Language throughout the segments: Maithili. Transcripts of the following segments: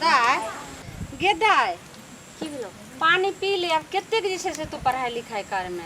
दाय गे दाय की भेलो पानी पी ले अब कतेक जे छै से तू पढ़ाई लिखाई कर में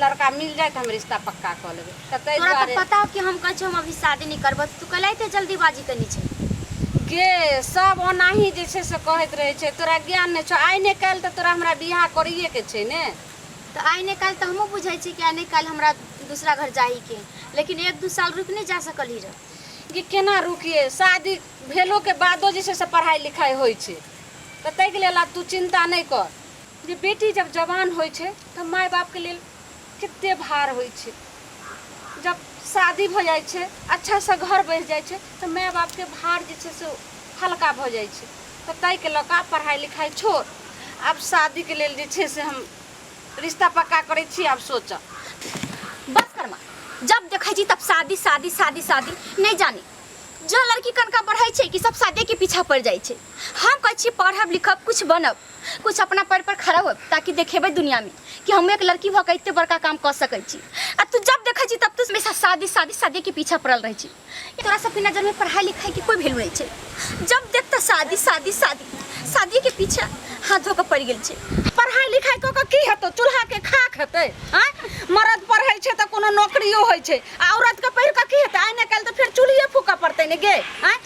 लड़का मिल जाए तऽ हम रिश्ता पक्का कऽ लेबै तऽ ताहि तोरा तऽ दुआरे पता हो कि हम कहै छी हम अभी शादी नहीं करबो तू कैला एते जल्दीबाजी कनी छै गे सब ओनाही जे छै से कहैत रहै छै तोरा ज्ञान नहि छौ आइ नहि काल्हि तऽ तोरा हमरा बियाह करैए के छै ने तऽ आइ नहि काल्हि तऽ हमहूँ बुझै छी कि आइ नहि काल्हि हमरा दूसरा घर जाही के लेकिन एक दू साल रुकि नहि जा सकली रह कि केना रुकिए शादी भेलो के बादो जे छै से पढ़ाई लिखाई होइ छै तऽ ताहिके लेल आब तू चिंता नहि कर जे बेटी जब जवान होइ छै तऽ माय बापके लेल कते भार होइ छै जब शादी भऽ जाइ छै अच्छासँ घर बसि जाइ छै तऽ माय बापके भार जे छै से हल्का भऽ जाइ छै तऽ ताहिके लऽ कऽ पढ़ाइ लिखाइ छोड़ आब शादीके लेल जे छै से हम रिश्ता पक्का करै छी आब सोचऽ बस करमा जब देखै छी तब शादी शादी शादी शादी नहि जानी जो लड़की कनका बढ़ै छै कि सब शादीके पीछा पड़ि जाइ छै हम कहै छी पढ़ब लिखब किछु बनब कुछ अपना पैर पर खड़ा हो ताकि देखेबै दुनिया में कि हम एक लड़की भऽ के एते बड़का काम कऽ सकै छी आ तू जब देखै छी तब तू हमेशा शादी शादी शादी के पीछा पड़ल रहै छी तोरा सबके नजर में पढ़ाई लिखाई के कोई वैल्यू नहीं छै जब देख तऽ शादी शादी शादी शादी के पीछा हाथ धो के पड़ गेल छै पढ़ाई लिखाई कऽ के की हेतौ चूल्हा के खाक हेतै आँय मरद पढ़ै छै तऽ कोनो नौकरियो होइ छै आ औरत के पढ़ि कऽ की हेतै आइ नहि काल्हि तऽ फेर चूल्हिए फूकऽ पड़तै ने गे आँय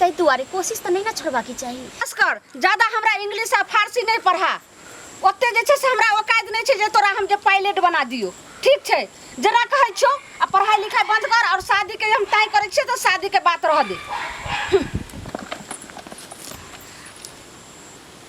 तै दुआरे कोशिश तऽ नहि ने छोड़बाके चाही बस कर ज्यादा हमरा इंग्लिश आ फारसी नहि पढ़ा ओते जे छै से हमरा औकात नहि छै जे तोरा हम जे पायलट बना दियो ठीक छै जेना कहै छो आ पढ़ाई लिखाई बंद कर और शादी के हम तय करै छियै तऽ शादी के बात रह दे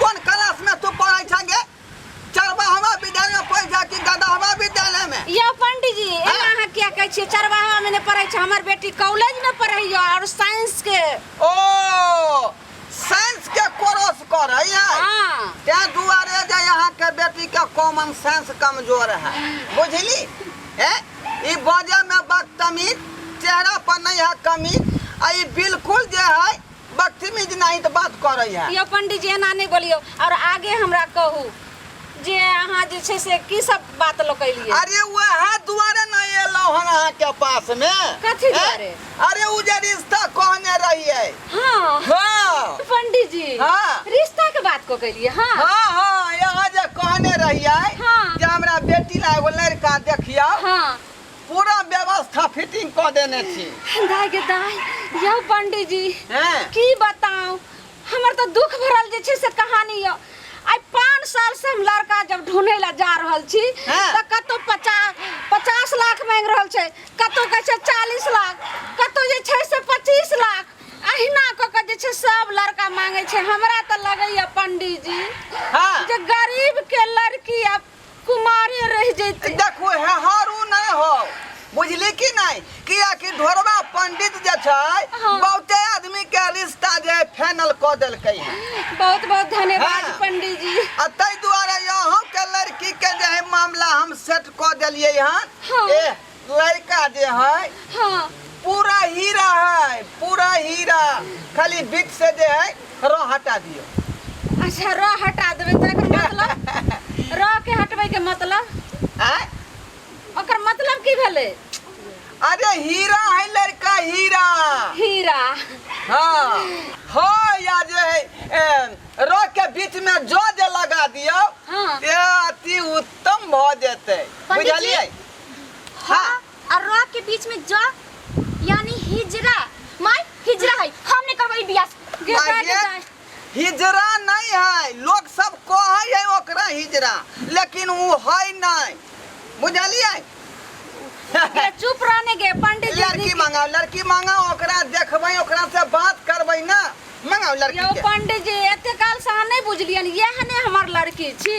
कोन क्लास में तू पढ़ै छ गे चरबा हमरा विद्यालय में पढ़ जा कि दादा हमरा विद्यालय में यो पंडित जी एना हाँ। अहाँ किया कहै छियै चरवाहा में नै पढ़ै छै हमर बेटी कॉलेज में पढ़ै यो और साइंस के ओ साइंस के कोर्स करै है हां ते दुआरे जे यहाँ के बेटी के कॉमन सेंस कमजोर है बुझली ए ई बाजे में बदतमीज चेहरा पर नहीं है कमी आ ई बिल्कुल जे है बदतमीज नहीं तो बात करे है यो पंडित जी एना नहीं बोलियो और आगे हमरा कहू जे अहाँ जे छै से की सब बात लोग कैलिए अरे वह दुआरे न एलो हन अहाँ के पास में कथी हैं? दुआरे? अरे उ जे रिश्ता कहने रही है हाँ हाँ पंडित जी हाँ। रिश्ता के बात को कैलिए हाँ हाँ हाँ यहाँ जे कहने रही है हाँ। जे हमरा बेटी ला एगो लड़का देखियो हाँ पूरा व्यवस्था फिटिंग कऽ देने छी दाय गे दाय यौ पंडीजी हैं? की बताऊ हमर तऽ दुख भरल जे छै से कहानी यऽ आइ पाँच साल से हम लड़का जब ढूंढे ला जा रहल छी हँ। तऽ कतौ पचास पचास लाख मांगि रहल छै कतौ कहै छै चालीस लाख कतौ जे छै से पच्चीस लाख अहिना कऽ कऽ जे छै सब लड़का मांगै छै हमरा तऽ लगैया पंडीजी हाँ। जे गरीब के लड़की आ कुमारे रह जैते देखू हे हरू नहीं हो बुझली कि नहीं किया कि ढोरवा पंडित जे छै हाँ। बहुते आदमी के रिश्ता जे फाइनल क देलकै है बहुत बहुत धन्यवाद हाँ। पंडित जी आ ताहि दुआरे यहाँ के लड़की के जे है मामला हम सेट क देलिए हन हाँ। ए लड़का जे है हाँ पूरा हीरा है पूरा हीरा खाली बीच से जे है रो हटा दियो अच्छा रो हटा देबे तो एकर मतलब रो के हटबे के मतलब आय ओकर मतलब की भेले अरे हीरा है लड़का हीरा हीरा हाँ हो या जे है ए, रो के बीच में जो जे लगा दियो हाँ। ये अति उत्तम भ जेते पंडित जी, बुझलिए ह आ र के बीच में ज यानी हिजरा माय हिजरा है हम नहीं करबो ई बियाह गे माय जाए गे। के जाए हिजरा नहीं है लोग सब कहे है ओकरा हिजरा लेकिन उ है नहीं बुझलिए गे चुप रहने गे पंडित जी लड़की मंगाओ लड़की मंगाओ ओकरा देखबै ओकरा से बात करबै ना मंगाओ लड़की यो के पंडित जी एते काल से अहाँ नहीं बुझलियन यह ने हमर लड़की छी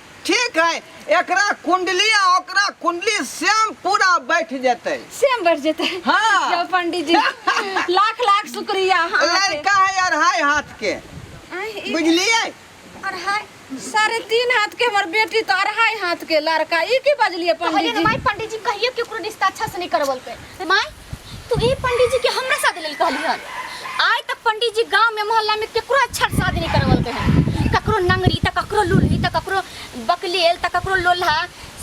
ठीक हय एकरा कुंडली आ ओकरा कुंडली सेम पूरा बैठ जेतै सेम बैठ जेतै हाँ। जाओ पंडित जी लाख लाख शुक्रिया अहाँके। लड़का है अढ़ाई हाथ के आँय, ई बुझलियै अढ़ाई साढ़े तीन हाथ के हमर बेटी तो अढ़ाई हाथ के लड़का ई की बजलिए पंडित कहलिए जी ना माई पंडित जी कहिए केकरो रिश्ता अच्छा से नहीं करवलकै माई तू ई पंडित जी के हमरा शादी लेल कहली हन आइ तक पंडित जी गांव में मोहल्ला में केकरो अच्छा से शादी नहीं करवलके हन ककरो नंगरी त ककरो लुल्ही त ककरो बकलेल त ककरो लोल्हा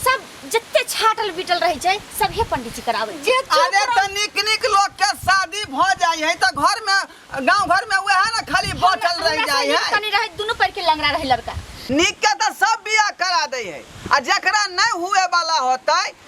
सब जते छाटल बीटल रहे छै सब हे पंडित जी करावे जे चुप अरे रह- त निक निक लोग के शादी भ जाय है त घर में गांव घर में वह ना खाली बैठल हमरा रह से जाय नीक है कनी रहे दुनू पैर के लंगड़ा रहे लड़का निक के त सब बियाह करा दे है आ जकरा नहीं हुए वाला होतै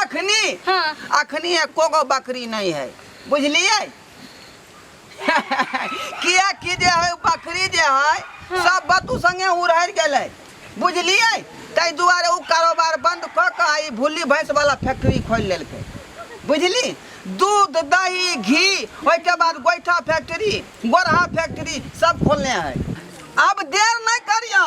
अखनी हाँ। अखनी एको गो बकरी नहीं है बुझलिए किया कि जे है उ बकरी जे है सब बतू संगे उड़हर गेलै बुझलिए ताहि दुआरे ओ कारोबार बंद कऽ कऽ आ ई भुल्ली भैंस वाला फैक्ट्री खोलि लेलकै बुझली दूध दही घी ओहिके बाद गोइठा फैक्ट्री गोरहा फैक्ट्री सब खोलने है अब देर नहि करियौ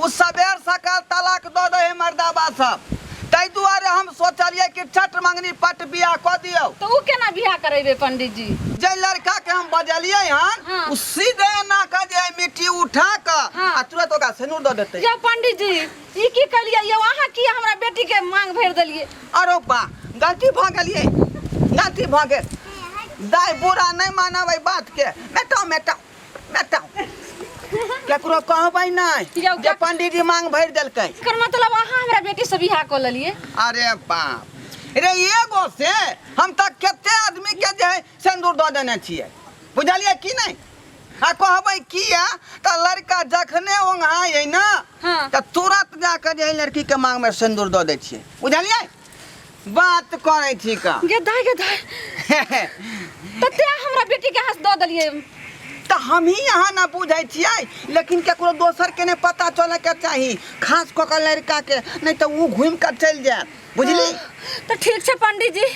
ओ सबेर-सकाल तलाक दऽ दै हइ मरदावा सब। तइ दुआरे हम सोचलियै कि चट मँगनी पट बिआह कऽ दियौ। तऽ ओ केना बिआह करैबै पंडी जी? जइ लड़का के हम बजलियै हन हँ। ओ सीधे एना कऽ जे हइ मिट्टी उठा कऽ हँ। आ तुरत ओकरा सेनुर दऽ देतै। यौ पंडी जी, ई की कयलियै यौ? अहाँ किए हमरा बेटी के माँग भरि देलियै? अरौ बाह! गलती भऽ गेल यै। गलती भऽ गेल। दाइ बुढ़ा नै मानब अइ बात के। मेटाउ-मेटाउ। बताओ केकरो कहबै नहि यौ, जे का- पंडित जी मांग भरि देलकै एकर मतलब अहाँ हमरा बेटी से बियाह कऽ लेलिए अरे बाप रे एगो से हम तऽ कते आदमी के जे है सिंदूर दऽ देने छियै बुझलियै कि नहि आ कहबै किया तऽ लड़का जखने ओंघाइ है ने हाँ। तऽ तुरंत जाके जे है लड़की के मांग में सिंदूर दऽ दै छियै बुझलियै बात करै छी का गे दाय गे दाय तऽ तें हमरा बेटी के हाथ दऽ देलियै तऽ हमही यहाँ ना बुझै छियै लेकिन केकरो दोसर के नहि पता चले के चाही खास कऽ के लड़का के नहि तऽ ऊ घूम कऽ चलि जायत बुझली तऽ ठीक छै पंडित जी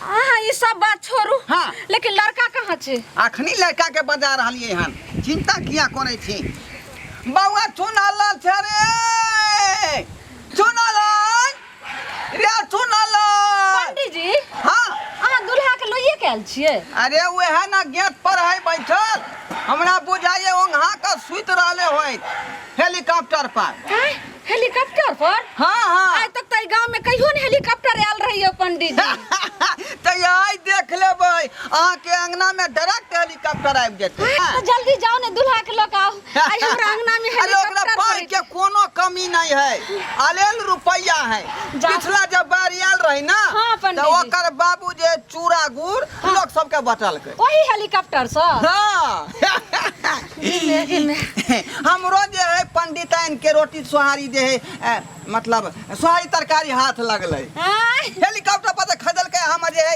अहाँ ई सब बात छोड़ू हाँ। लेकिन लड़का कहाँ छै अखनी लड़का के बजा रहलियै हन चिंता किया करै छी बौआ सुन अलल छै रे चुनलन रे चुनलन पंडित जी हाँ अहाँ दुल्हा के लोइए के आयल छियै अरे वह ना गेट पर है बैठल हमरा बुझाइए ओंघा के सुत रहले होय हेलीकॉप्टर पर आँय, हेलीकॉप्टर पर हाँ हाँ आइ तक तऽ गांव में कहियो ने हेलीकॉप्टर आयल रहियो पंडित जी तो यही देख लेबै अहाँ के अंगना में डायरेक्ट हेलीकॉप्टर आबि जेतै तऽ जल्दी जाओ ने दुल्हा के लऽ के आओ आइ हमरा अंगना में अरे ओकरा हेलीकॉप्टर पाई के खरीद- कोनो कमी नहीं है अलेल रुपया है जा- पिछला जब बाढ़ आयल रही ना हाँ, पंडित तो जी। ओकर बाबू जे चूड़ा गुड़ लोग सबके बटलकै ओही हेलीकॉप्टर से हाँ इमे इमे हमरो जे है पंडिताइन के रोटी सोहारी जे है अ, मतलब सोहारी तरकारी हाथ लगलै आय, हेलीकॉप्टर पर से खरीदलकै हम जे है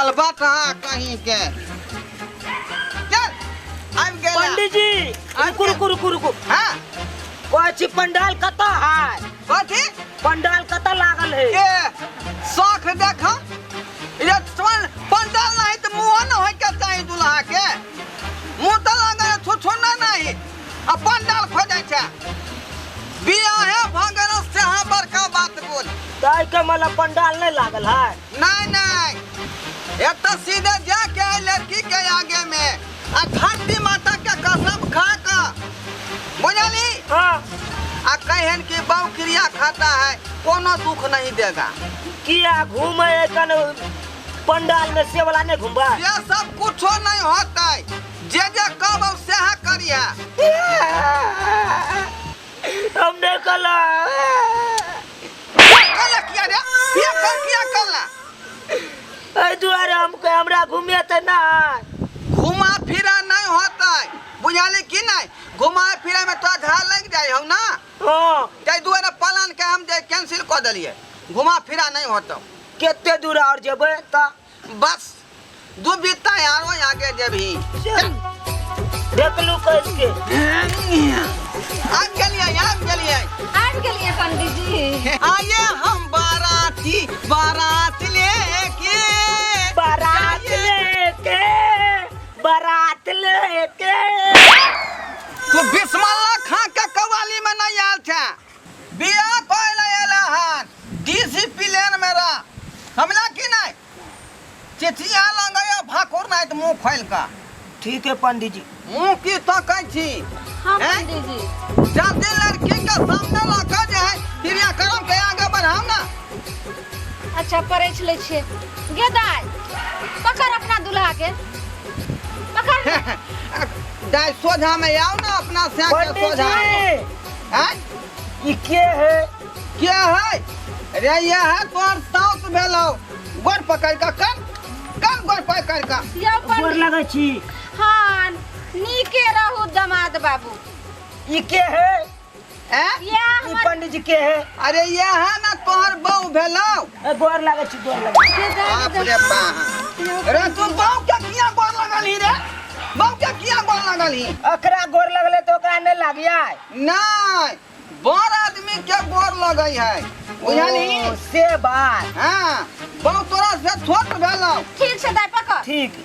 अलबटा कहीं के चल आबि गेल पंडित जी रुकू रुकू रुकू रुकू हां कहै छी पंडाल कतऽ है कथी पंडाल कतऽ लागल है ए शौक देख ये चल पंडाल नहीं तो मुंह न होय के चाही दुल्हा के मुंह तो लगा छुछुना नहीं अपन डाल खोजै छै बियाहे भऽ गेल से अहाँ बड़का बात बोल ताहि के मतलब पंडाल नहीं लागल है नहीं नहीं एतऽ सीधे जाके एहि लड़की के आगे में आ धरती माता के कसम खा कऽ बुझली हाँ आ कहन कि बहु क्रिया खाता है कोनो दुख नहीं देगा किया घूमे कन पंडाल में से वाला नहीं घूमबा ये सब कुछो नहीं होतै जे जे कहब सएह करिहे हम नहि कहलहुँ कहले किया रे ये कह किया कहला एहि दुआरे हम कह- हमरा घूमे तऽ नहि घुमा फिरा नहीं होता बुझाली कि नहीं घुमा फिरा में तोरा झा लग जाए हम ना हँ ताहि दुआरे प्लान के हम जे कैंसिल कऽ देलिए घुमा फिरा नहीं होता कते दूर आओर जेबै तऽ बस दू बीता आरो आगे जेबही देखलू कस के आब गेलियै आब गेलियै आबि गेलियै पंडीजी आये हम बाराती बारात लेके बारात लेके बारात लेके तू बिस्मल्ला खां के कवाली में नहीं आयल था बियाह कए लए एला हन डिसिपिलेन मे रह। समझला कि नहि? चिचिया लगैए भाकुर नहि त मुँह खोलि क। ठीक ऐ पंडीजी। मुँह कि तकै छी? हँ ऐं? पंडीजी। जल्दी लड़की के सामने ल क जे है क्रियाक्रम के आगे बढ़ाउ ने। अच्छा परछि लै छियै। गे दाइ पकड़ अपना दुलहा के। पकड़ ने। दाइ सोझा मे आउ ने अपना श्याम के सोझा। पंडीजी! आय ई के है के है रे यह तोर साउस भेलौ गोर पकड़ का कन कन गोर पकड़ का यौ गोर पंडित लगै छी हाँ नीके रहू दमाद बाबू ई के है हैं? यह ई हमर पंडित जी के है अरे यह ना तोहर बहू भेलौ ए, गोर लागै छी गोर लागै छी। जे जाए बाप के रे देखा। बाप रे तू बाप के किया गोर लगल ही रे बाप के किया गोर लगल ही अखरा गोर लगले तो ओकरा नहीं लागिया नहीं बड़ आदमी के गोर लगै है बुझली ओ, से बात हाँ बाप तोरा से छोट भेलौ ठीक छै दाइ पकड़ ठीक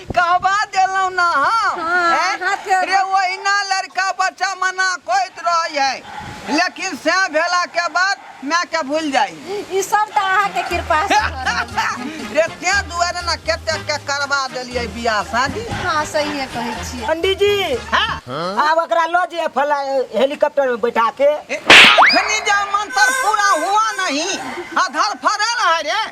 कहबा देलहुँ ना हम हाँ, हैं? हाँ, फेर- रे ओहिना लड़का बच्चा मना कोइत रहै है लेकिन से भेला के बाद माय के भूल जाइ ई सब तऽ अहाँके कृपा से भऽ रहल छै। रे तें दुआरे ना कते के करबा देलियै बियाह शादी हाँ सहिए कहै छियै पंडित जी हाँ आब ओकरा लऽ जे फला हेलीकॉप्टर में बैठा के अखनी जा मंत्र पूरा हुआ नहीं अधर फरल है रे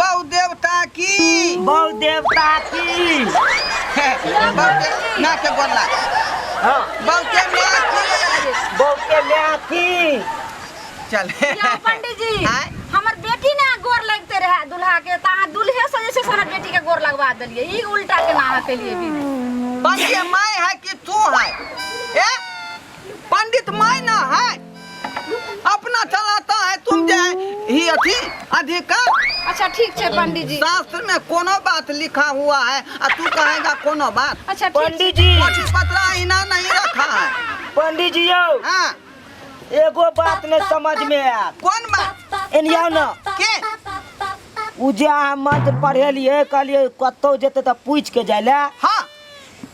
बौ देवता की बौ देवता की बौ के ना के गोर लाग हाँ बौ के माँ की बौ के माँ की चल क्या पंडित जी आय? हमर बेटी ना गोर लगते रहे दुल्हा के त अहाँ दुल्हे से जे छै से हमर बेटी के गोर लगवा देलिए ई उल्टा के ना अहाँ केलिए भी पंडित माय है कि तू है ए पंडित मायना है अपना चलाता है तुम जे ही अथी अधिकार अच्छा ठीक छै पंडित जी शास्त्र में कोनो बात लिखा हुआ है आ तू कहेगा कोनो बात अच्छा ठीक पंडित जी कोठी पतरा इना नहीं रखा है पंडित जी यौ हाँ एगो बात ने समझ में आयल कौन बात एनिया न के उ जे अहाँ मंत्र पढ़ेलियै कहलियै कतौ जेतै तऽ पूछि के जाय लए हाँ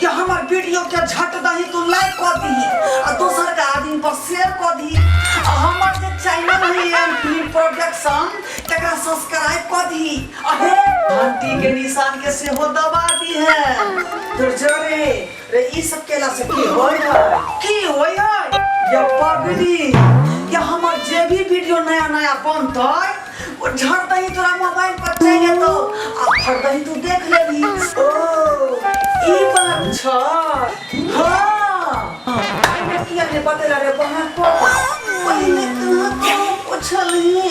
कि हमर वीडियो के झट दही तू लाइक क दही आ दोसर का आदमी पर शेयर क दही आ हमर जे चैनल है एम फिल्म प्रोडक्शन तकरा सब्सक्राइब क दही आ हे घंटी के निशान के सेहो दबा दी है तो जरे रे ई सब केला से की होय है की होय है या पगली या हमर जे भी वीडियो नया नया बनतै ओ झट दही तोरा मोबाइल पर चलि एतौ आ फट दही तू देख लेबही ओ ई बात छ हाँ आई ने किया ने बतेला रे बहन पर पहिने तू पोछलही